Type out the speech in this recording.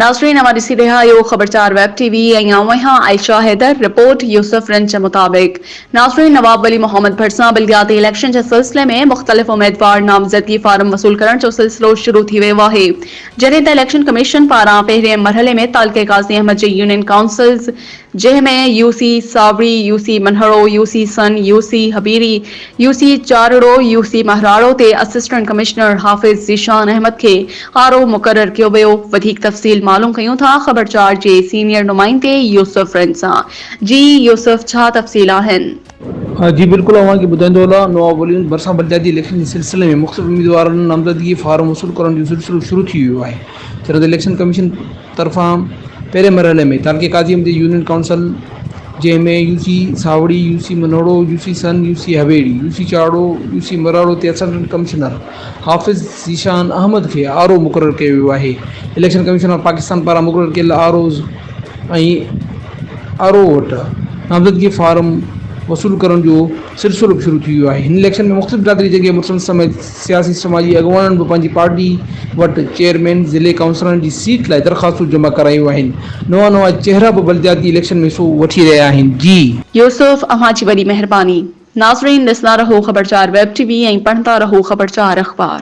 ناظرين اوهان ڏسي رهيا آهيو خبر چار ويب ٽي وي ۽ آئون آهيان عائشه حيدر رپورٽ يوسف رنچ مطابق ناظرين نواب ولي محمد ڀرسان بلدياتي اليڪشن جي سلسلي ۾ مختلف اميدوار نامزدگي فارم وصول ڪرڻ جو سلسلو شروع ٿي ويو آهي جڏهن ته اليڪشن ڪميشن پاران پهرين مرحلي ۾ تعلقي قاضي احمد جي يونين ڪائونسلز جنهن ۾ UC Sawri, UC Manharo, UC Sann, UC Habiri, UC Charro, UC Mahraro تي اسسٽنٽ ڪمشنر حافظ ذيشان احمد کي آر او مقرر ڪيو ويو، وڌيڪ تفصيل معلوم ڪيون ٿا خبر چار جي سينيئر نمائندي يوسف رند سان، جي يوسف ڇا تفصيل آهن؟ جي بلڪل اوهان کي ٻڌائيندو هلان نواب وليمز ڀرسان بلدياتي اليڪشن جي سلسلي ۾ مختلف اميدوارن نامزدگي فارم وصول ڪرڻ جو سلسلو شروع ٿي ويو آهي چرنڌ اليڪشن ڪميشن طرفان پهرين مرحلي ۾ تعلقي قاضي مندي يونين ڪائونسل جنهن ۾ U C Saori, U C Manoro, U C Sann, U C Hoyri, U C Charho, U C Mararo تي اسسٽنٽ ڪمشنر حافظ ذيشان احمد کي آر او مقرر ڪيو ويو آهي اليڪشن ڪميشن آف پاڪستان پاران مقرر ڪيل آر اوز ۽ آر او وٽ نامزدگي فارم وصول ڪرڻ جو سلسلو به شروع ٿي ويو آهي هن اليڪشن ۾ مختلف برادري جنگ جي مڙسن سميت سياسي سماجي اڳواڻن به پنهنجي پارٽي وٽ چيئرمين، ضلعي ڪائونسلرن جي سيٽ لاء درخواستون جمع ڪرايون آهن. نوان نوان چهرا به بلدياتي اليڪشن ۾ حصو وٺي رهيا آهن. جي. يوسف اوهان جي وڏي مهرباني. ناظرين ڏسندا رهو خبرچار ويب ٽي وي ۽ پڙهندا رهو خبرچار اخبار.